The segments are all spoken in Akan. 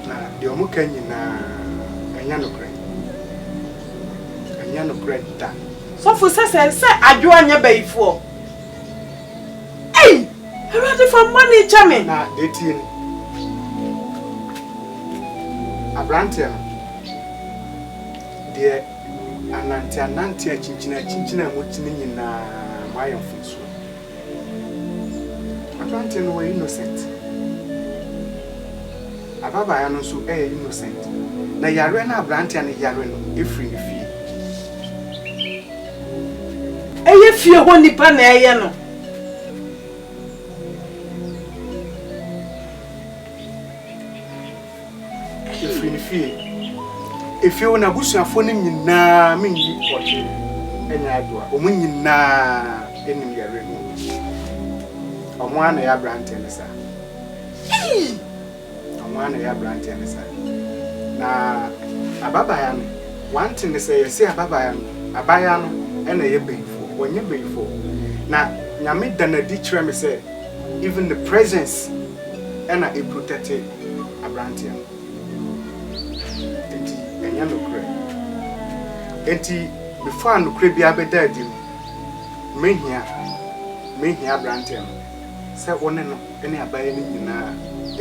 Na deɛ wɔka nyinaa, ɛnyɛ nokorɛ. Ɛnyɛ nokorɛ da. Sɔfo sɛ sɛ sɛ adwoa nyɛ bayifoɔ ei awurade fa mbɔne kyɛ me. Na deɛ ɛteɛ ni abranteɛ no deɛ anante anante akyinkyini akyinkyini a moti no nyinaa moayɛ mfomsoɔ. Aberanteɛ no ɔyɛ innocent. Ababaayewa no nso yɛ innocent. Na yareɛ no a aberanteɛ no yare no firi ne fie. Ɛyɛ fie hɔ nnipa na ɛyɛ no. Efiri ne fie, efie wo n'abusuafoɔ no nyinaa me nyi ɔgye ɛnyɛ adoa ɔmo nyinaa enim yɛre no ɔmo a na yɛ abranteɛ no saa ɔmo a na yɛ abranteɛ no saa na ababaya no wante ne sɛ yɛse ababaya no abaya no ɛna ɛyɛ bayifoɔ wɔnyɛ bayifoɔ na nyame danadi kyerɛ me sɛ even the presence ɛna eprotɛte aberanteɛ no. Enti ɛnyɛ nokorɛ. Enti before a nokorɛ biara bɛda adi no, mehia, mehia aberanteɛ no sɛ wo ne no ne abayɛ no nyinaa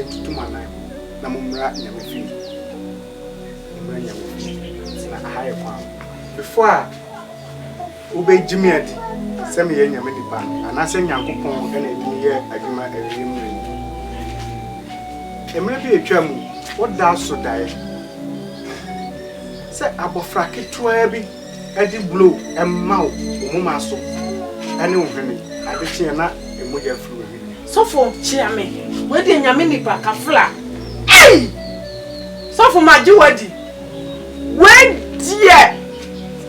ntutu mo anan na mommra Nyame fie. Mommra Nyame fie. Na aha yɛ kwan. Before a. Wobegye me adi sɛ meyɛ nyame nipa, anaasɛ Nyankopɔn na adi me yɛ adwuma awiei mmere mu? Mmere bi a etwaa mu, wodaa so dae sɛ abofra ketewaa bi de blow ma wo wo moma so ne wo hwene. Ade kye a na mogya afiri wo hwene mu. Sɔfo kyea me, wei deɛ nyame nipa, kafra. Ei! Sɔfo magye wo adi, wei deɛ.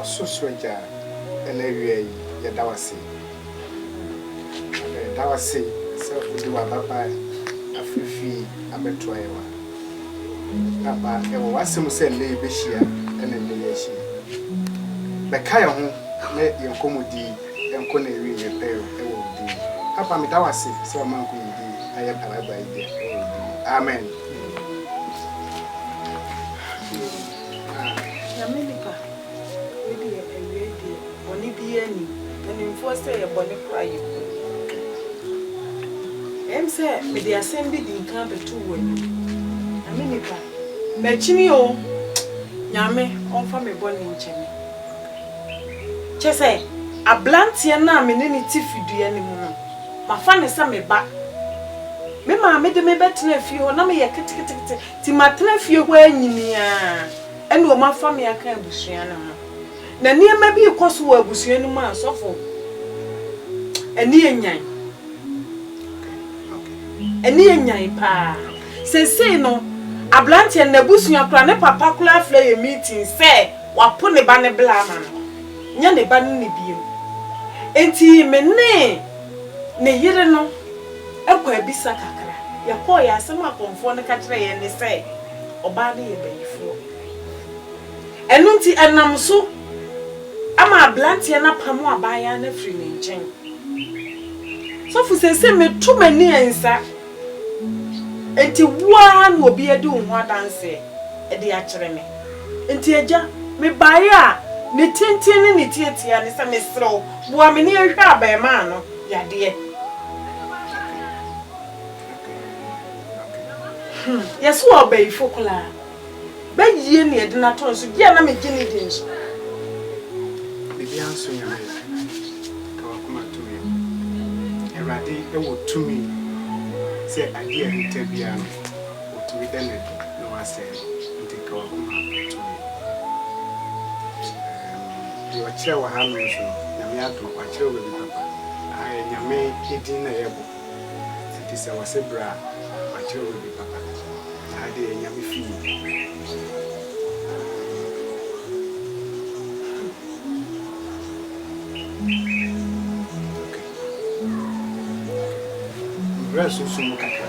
Ɔsorosoro Agya, ɛna awia yi, yɛda wo ase. Yɛda wo ase sɛ wode w'ababaa afiri fie abɛto ayewa. Papa, ɛwɔ w'asɛm mu sɛ ɛnnɛ yɛbɛhyia na ɛnnɛ yɛahyia. Bɛka yɛn ho na yɛn nkɔmmɔdi nkɔ n'awieeɛ pɛɛ wɔ wo din mu. Papa, meda wo ase sɛ wama nkɔmmɔdi yi ayɛ Paragua yi dea wɔ wo din mu. Amen. Nyame nipa wei deɛ awiei deɛ bɔne biaa nnim animfoɔ sɛ yɛ bɔne koraa yɛ hu Ɛyɛm sɛ mede asɛm bi di nkan bɛto wo anim Nyame nipa makyini oo Nyame ɔmfa me bɔne nkyɛ me Kyɛsɛ abranteɛ no a mene no te fidua no mu no Mafa no sɛ me ba. Me maame de me bɛtenaa fie hɔ, na meyɛ ketekete, nti matena fie hɔ ara nyinii ara, ɛnna wɔafa me aka abusua no ho. Na nneɛma bi rekɔ so wɔ abusua no mu a, sɔfo, ɛne yɛ nyan. Ɛne yɛ nyan paa. Seesei no, aberanteɛ no, n'abusua koraa, ne papa koraa frɛ yɛn meeting sɛ wapo ne ba no bla ama no. nyɛ ne ba no ni bio. Enti me ne ne yere no kɔ abisa kakra. Yɛkɔeɛ, asɛm a kɔmfoɔ no ka kyerɛɛ yɛn ne sɛ, Ɔbaa no yɛ bayifoɔ. Ɛno nti, ɛnam so ma aberanteɛ no apamo abaayewa no afiri ne nkyɛn. Sɔfo, seesei meto m'ani nsa. Enti wo ara na obi adi wo ho adanseɛ de akyerɛ me. Enti Agya, mebaeɛ a ne tenten ne ne tiatia ne sɛ mesrɛ wo, boa me ne ɛhwɛ abarimaa no yadeɛ. Hmm, yɛse ɔɔbayifo koraa. Bɛyie na yɛde no ato no so. Dear na megye no di nso. Biribiara nso Nyame yɛ. Ka w'akoma to wiem. Awurade wɔ tumi sɛ adeɛ a ahinta biara no, ɔtumi da no adi na wasɛe no. Nti ka w'akoma to wiem. Erm deɛ ɔkyerɛ wɔ ha nom nso no, Nyame adom wakyerɛ wo baabi papa. Aha yɛ Nyame din na yɛbɔ. Enti sɛ wɔse bra a, makyerɛ wo baabi papa. Saa deɛ ɛyɛ Nyame fie. Bra sunsum mu kakra.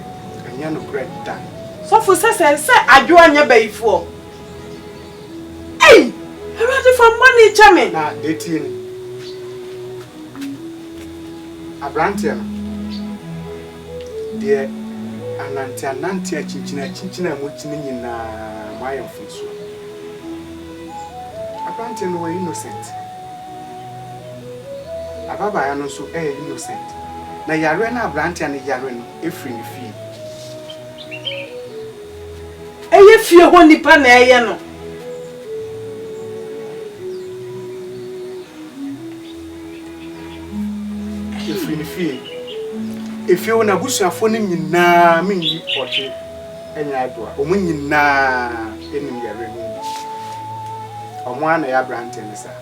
Ɛnyɛ nokorɛ da. Sɔfo sɛ sɛ sɛ adwoa nyɛ bayifoɔ ei awurade fa mbɔne kyɛ me. Na deɛ tie ni abranteɛ no deɛ anante anante akyinkyini akyinkyini a mokyini nyinaa moayɛ mfomsoɔ abranteɛ no wɔ innocent. Ababaawa no nso yɛ innocent. Na yareɛ no a abranteɛ no yare no firi ne fie. Ɛyɛ fie hɔ nipa na ɛyɛ no. Ɛfiri ne fie. Efie hɔ n'abusuafoɔ no nyinaa menyi ɔhwe. nyɛ ado a, wɔn nyinaa nim yɛn werɛ mu bi. Wɔn ara na ɛyɛ aberanteɛ no saa.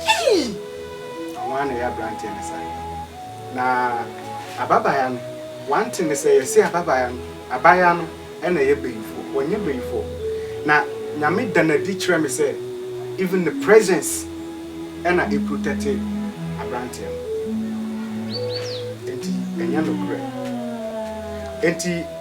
Ei! Wɔn ara na ɛyɛ aberanteɛ no saa. Na ababaayaa no, one thing ne sɛ yɛse ababaayaa no, abaayaa no na ɛyɛ bayifoɔ. Wɔnyɛ bayifoɔ. Na Nyame da no adi kyerɛ me sɛ even ne presence na ɛprotɛte aberanteɛ no. Enti ɛnyɛ nokorɛ. Enti.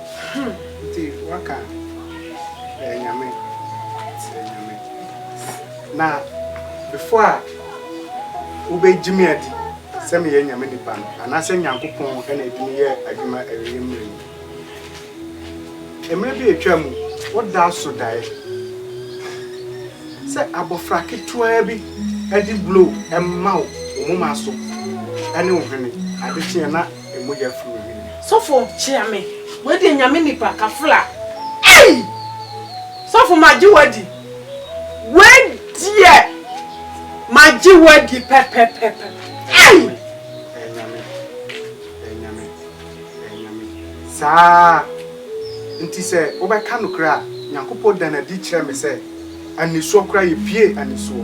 Hum nti waka ɛyɛ nyame sɛ nyame na before a wobɛ gyimi adi sɛ meyɛ nyame nipa no anaasɛ nyankopɔn ɛna ɛdimi yɛ adwuma ɛreyɛ mmerɛ yi mmerɛ bi atwa mu woda so daɛ sɛ abɔfra ketewa bi ɛde blow ɛma wo wo moma so ɛne wo hwene adekyeɛ na mogya firi wo hwene mu. Sɔfo kyea me. Wei deɛ nyame nipa kafra ei! Sɔfo magye wadi. Wei deɛ magye wadi pɛpɛpɛpɛ ei! Ɛyɛ nyame ɛyɛ nyame ɛyɛ nyame saa nti sɛ wobɛka nokorɛ a Nyankopɔn da no adi kyerɛ me sɛ anisoɔ koraa yɛ pie anisoɔ.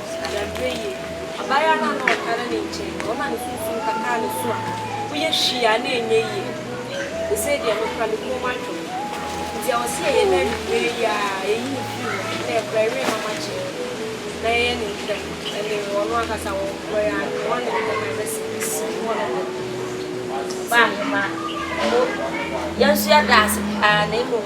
Adagyew yi, ɔbayaa no a na ɔtaa na ne nkyɛn no, ɔma ne sunsum kataa ne so a, woyɛ hwii a na ɛnyɛ yie. Sesei deɛ mekura me kɔn mu atwom. Nti ɛwɔ sɛ yɛyɛ no anwummerɛ yi ara, yɛyi no firi hɔ, na yɛkora awie na wɔagye no, na yɛyɛ ne ntɛm, ɛnne ɔno ankasa wɔ hɔ yi ara no, wɔn ne no bɛma yɛbɛsi no hɔ nom. Ɔbaahema, mo, yɛn nso yɛda ase paa, na mmom.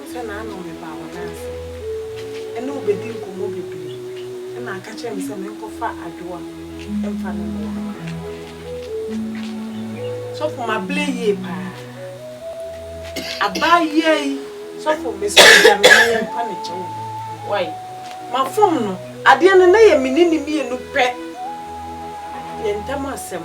Nnsɛ na ano mebaa hɔn ase na obedzi nkɔmbɔ beberee na aka kyerɛ me sɛ menkɔfa adwowa mfa no mboa sɔfo. Maberɛ yie paa. Abaayea yi, sɔfo mesrɛ wo gya me na yɛmpa no kyɛw o. Wai, mafom no. Adeɛ no na yɛ me ne no mmienu pɛ. Yɛn ntam asɛm.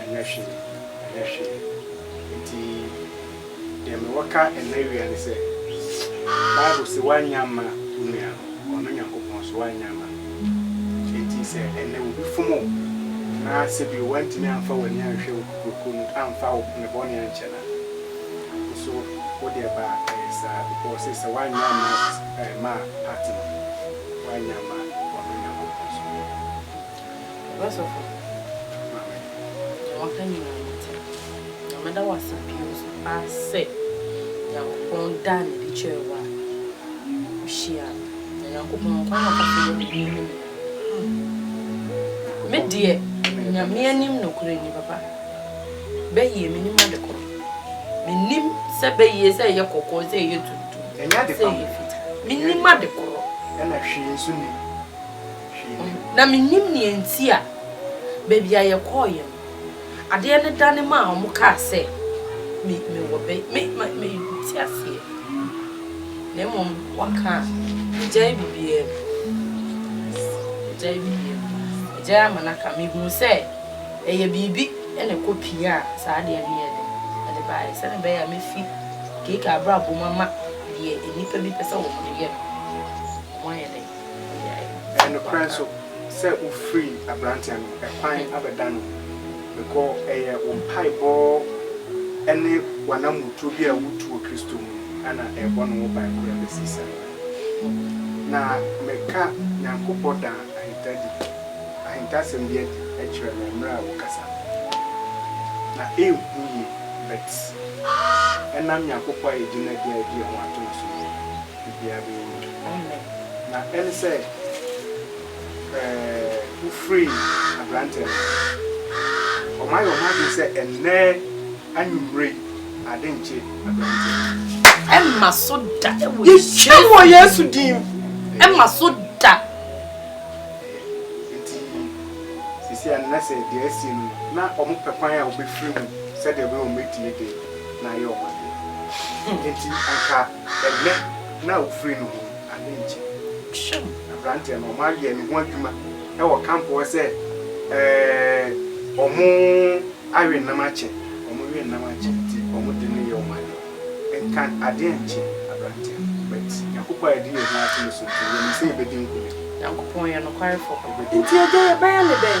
Ɛnyɛ hwee, ɛnyɛ hwee. Enti deɛ mewɔ ka ɛnnɛ awia ne sɛ, Bible se woannyɛ amma wo nua no, ɔno Nyankopɔn nso woannyɛ amma no. Enti sɛ ɛnnɛ obi fom wo na sɛ bio woantumi amfa w'ani anhwɛ wo kokuroko mu amfa wo ne bɔne ankyɛ no a, wo nso wo deɛ ba a ɛyɛ saa because ɔse sɛ woannyɛ amma ɛmmaa part no, woannyɛ amma ɔno Nyankopɔn nso. Ɔba sɔfo Maame, deɛ waka nyinaa me te. Na mɛda wo ase bio nso paa sɛ Nyankopɔn daa no adi kyerɛɛ wo a wo hyiaa no. Na Nyankopɔn wɔ kwan a ɔfa so yɛ ne nnwuma no nyinaa. Me deɛ Nyame anim nokorɛ ni papa, bɛyie me nim ade korɔ. Me nim sɛ bɛyie sɛ ɛyɛ kɔkɔɔ, sɛ ɛyɛ tuntum, sɛ ɛyɛ fitaa. Me nim ade korɔ. Ɛna hwee nso nim. Na mennim nea enti a baabi a yɛkɔeɛ no, adeɛ no dane maa wɔkaa sɛ me, mewɔ bɛ, me, ma, mente aseɛ. Na mmom wɔka a, megyae biribiara mu. Yes, megyae biribiara mu. Megyae ama no aka. Mehuu sɛ ɛyɛ biribi na ɛkɔ piaa saa adeɛ no yɛɛ dɛn? Ɛde baeɛ, sɛdeɛ ɛbɛyɛ a mɛfi Keika abrabɔ mu ama deɛ nnipa bi pɛ sɛ wɔde yɛ no, wɔayɛ dɛn? Ɛyɛ nokorɛ nso sɛ wofirii aberanteɛ no ɛkwan abɛda no bɛkɔ, ɛyɛ wo mpaebɔ ne w'anammɔtuo bi a wotu wɔ Kristo mu na ɛrebɔ no ho ban kora bɛsi saa mmerɛ no. Na meka Nyankopɔ daa ahintadi, ahintasɛm bi adi kyerɛ me mmerɛ a wokasa no. Na ɛnhu yie, but ɛnam Nyankopɔ a yɛgye no adi a yɛde yɛn ho ato no so no, biribiara bɛkɔ yie. Amen. Na ɛne sɛ eh, wo free aberanteɛ no hɔ. Ɔmo ayɛ ɔmo adwene sɛ ɛnnɛ anwumerɛ yi ade nkye aberanteɛ no. Ɛmma so da ɛwɔ Yesu din mu. Yɛhyɛ no wɔ Yesu din mu. Ɛmma so da. Ɛyɛ. Nti sisi a na sɛ deɛ asie no no, na ɔmo pɛ kwan a wɔbɛfiri mu sɛdeɛ ɛbɛyɛ wɔn atie deɛ na ayɛ wɔn adeɛ. Nti anka. Ɛnnɛ, na awufiri no ho ade nkyɛ. Hwɛm! Aberanteɛ no, wɔayɛ ne ho adwuma wɔ kamp hɔ sɛ wɔn awe nnam akyɛ. Wɔn we nnam akyɛ nti, wɔde no yɛ wɔn ade. Nka adeɛ nnkye aberanteɛ no, but Nyankopɔn a yɛde yɛn ho ato no so nti, yɛnim sɛ yɛbɛdi nkonim. Nyankopɔn yɛ nokwarefo. Nti agya, yɛbɛyɛ no dɛn?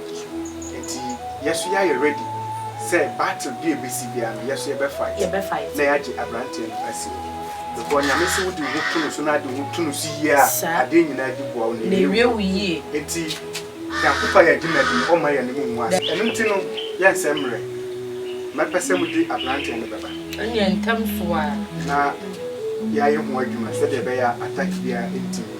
so. Enti yɛ nso yɛayɛ ready sɛ battle bi a ɛbɛsi biara no, yɛ nso yɛbɛ fight na yɛagye aberanteɛ no asi hɔ. Because Nyame se wode wo ho to no so na ade wo ho to no so yie a, adeɛ nyinaa di boa wo na ɛwie wo yie. Enti Nyankopɔn ayɛ adwuma bi, ɔmma yɛne mo nwu ase. Ɛno nti no, yɛ nsɛ mmerɛ. Mɛpɛ sɛ mode aberanteɛ no bɛba. Ɛneɛ ntɛm so ara. Na yɛayɛ ho adwuma sɛdeɛ ɛbɛyɛ a attack biara ntim.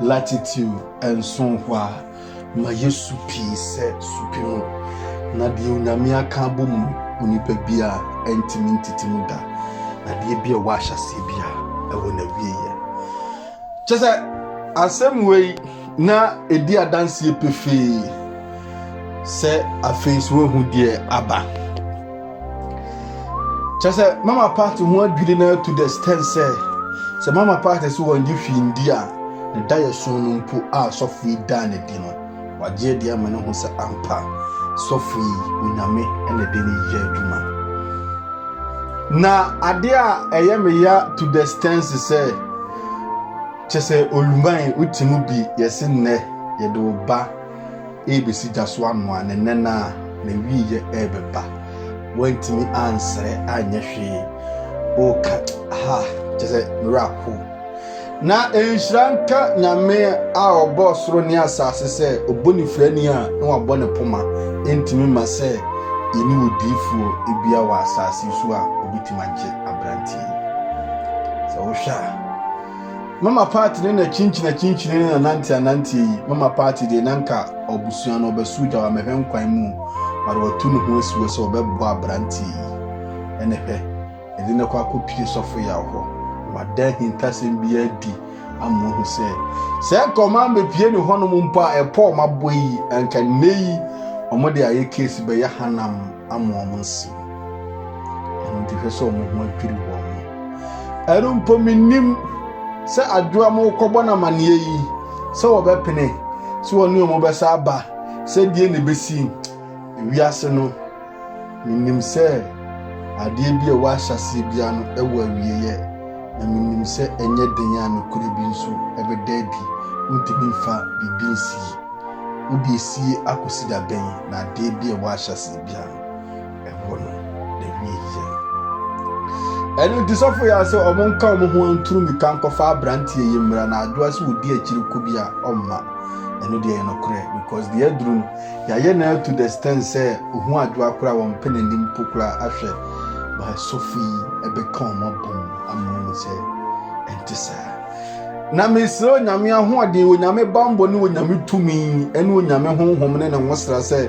Latitude nson hɔ a, ma yɛ su pii sɛ su pe mu, na deɛ Onyame aka abɔ mu no, onipa biara ntumi ntete mu da. Adeɛ bi a ɛwɔ ahyɛseɛ bi a ɛwɔ n'awieɛ. Kyɛ sɛ asɛm wei na ɛdi adanseɛ pefee sɛ afei so ahu deɛ aba. kyerɛ sɛ mama party ho adwiri no to the extent sɛ sɛ mama party sɛ wɔngye hwee ndi a ne da yɛ so no mpo a sɔfo yi daa ne di no wagye adi ama ne ho sɛ ampa sɔfo yi onyame na ɛde ne yɛ adwuma na ade a ɛyɛ me ya to the extent sɛ kyerɛ sɛ oluman wotumi bi yɛse nnɛ yɛde wo ba rebesi gya so anoa ne nnɛn a n'awiei rebɛba. Wantumi ansrɛ anyɛ hwee. Ɔreka ha, kyerɛ sɛ ne werɛ ahow. Na nhyira nka Nyame a ɔbɔɔ soro ne asase sɛ obonifrani a na wabɔ ne poma ntumi mma sɛ yɛne odiyifoɔ bia wɔ asase so a ɔbɛtumi agye aberanteɛ yi. Sɛ wohwɛ a. mama party ne na kyinkyina kyinkyina ne na nante anante yi mama party deɛ na nka ɔbusua no ɔbɛso gya wa mɛhwɛ nkwan mu mara watu ne ho asi hɔ sɛ ɔbɛboa aberante yi ɛne hwɛ ɛde ne kɔ akɔpie sɔfo yɛ ahɔ wada ahintasɛm bi adi ama ohu sɛ sɛ nka ɔma mbɛpie ne hɔnom mpo a ɛpɔ ɔma bɔ yi nka nnɛ yi ɔmo de ayɛ case bɛyɛ hanam ama ɔmo nsɛm Ɛno nti hwɛ sɛ wɔn ho adwiri wɔn. Ɛno mpo menim sɛ adwoa mo kɔbɔ no amanneɛ yi sɛ wɔbɛpene sɛ wɔne wɔn bɛsa aba sɛ deɛ na ɛbɛsi wiase no. Menim sɛ adeɛ bi a ɛwɔ ahyɛseɛ biara no ɛwɔ awieeɛ na menim sɛ ɛnyɛ den a nokorɛ bi nso ɛbɛda adi. Wontumi mfa biribi nsi. Wode esie akɔsi da bɛn na adeɛ bi a ɛwɔ ahyɛseɛ biara no ɛhɔ no na wie yɛ. Ɛno nti sɔfo yɛ sɛ wɔn nka wɔn ho nturu mmirika nkɔfa aberanteɛ yi mmra na adwoa sɛ wɔdi akyiri ko bi a ɔmma ɛno deɛ yɛ nokorɛ because deɛ aduru no yɛayɛ na to the stand sɛ ohu adwoa koraa wɔn mpɛ n'anim po koraa ahwɛ ba sɔfo yi ɛbɛka wɔn abom ama wɔn sɛ ɛnte saa na mesrɛ onyame ahoɔden onyame bambɔ ne onyame tumi ɛne onyame honhom ne ne nwosra sɛ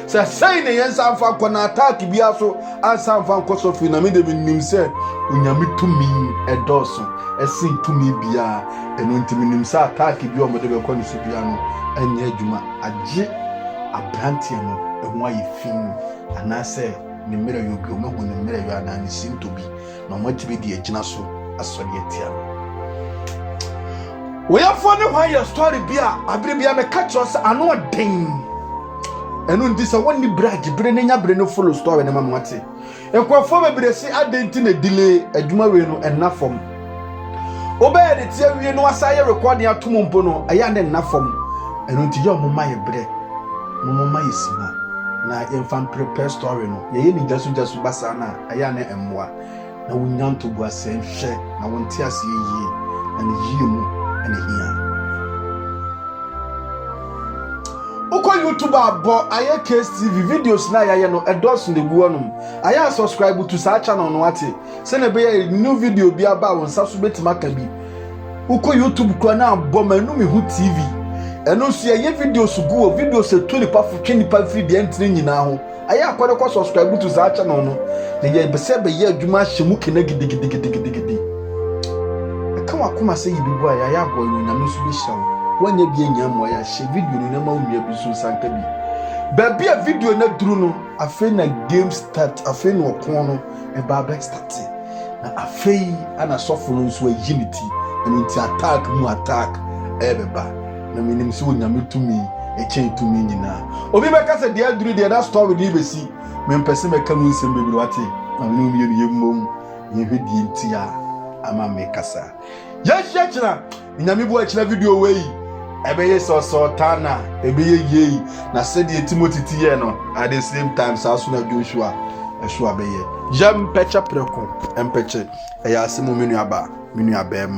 Sɛ sɛn na yɛn san fa nkɔ na attack biara so ansa mfa nkɔ so fi na me de menim sɛ onyame tumi ɛdɔɔso ɛsen tumi biara ɛno nti menim sɛ attack bi a wɔde bɛkɔ ne so biara no ɛnyɛ adwuma agye abranteɛ no ɛho ayɛ fi anaasɛ ne mmerɛ yɔ bi wɔn ahu ne mmerɛ yɔ anaa ne sinto bi na wɔatumi de agyina so asɔre atia no woyɛfoɔ ne hwan yɛ story bi a abere bia meka kyerɛ sɛ ano ɔden ɛno nti sɛ wonni berɛ agye bere ne nya bere no follow story no ma mo ate nkurɔfoɔ bebree se adɛn nti na delay adwuma wei no ɛnna fam wobɛyɛ de teɛ wie no wasa yɛ rekɔden atom mpo no ɛyɛ ne nna fam ɛno nti yɛ ɔmo ma yɛ berɛ na ɔmo ma yɛ sima na yɛmfa mprepare story no yɛyɛ ne gyasogyaso basaa no a ɛyɛ a na ɛmmoa. Na wonnya ntoboa sɛ, Nhwɛ, na wonte aseɛ yie, na ne yie mu na ɛhia. Wokɔ YouTube a bɔ ayɛ case tv videos na yɛayɛ no ɛdɔɔso na egu hɔnom ayɛ a subscribe to saa channel no ate sɛnea ɛbɛyɛ new video bi aba a wɔn nsa so betumi aka bi wokɔ YouTube kura na abɔ ma ɛnu mehu tv ɛno nso yɛyɛ videos gu wɔ videos etu nipa fo twe nipa firi deɛ ntini nyinaa ho Ayɛ akɔ no kɔ subscribe to saa channel no na yɛbɛ sɛ bɛyɛ adwuma ahyɛ mu kena gidigidigidigidi ɛka wakoma sɛ yɛ bibu a yɛayɛ aboa no onyame nso bɛhyira wo woanyɛ bi anya mmoa yɛ ahyɛ video no na ma wo nua bi nso nsa nka bi baabi a video no aduru no afei na game start afei na ɔko no ɛba abɛ start na afei ana sɔfo no nso ayi ne ti ɛno nti attack mu attack ɛbɛba Na menim sɛ Onyame tumi ɛkyɛn tumi nyinaa. Obi bɛka sɛ deɛ aduru deɛ na story no bɛsi. Mempɛ sɛ mɛka mu nsɛm bebree wate. Ma me ne wo mmienu yɛmmom na yɛnhwɛ deɛ nti a ama mekasa. Yɛnhyia kyena. Onyame bu akyena video wei. Ɛbɛyɛ sɛ ɔsɛ ɔtaa na ɛbɛyɛ yei. Na sɛdeɛ Timothy ti yɛ no at the same time saa so na Joshua ɛso abɛyɛ. Yɛmpɛkyɛ prɛko mpɛkyɛ. Ɛyɛ asɛm o me nuabaa, me nuabɛɛma.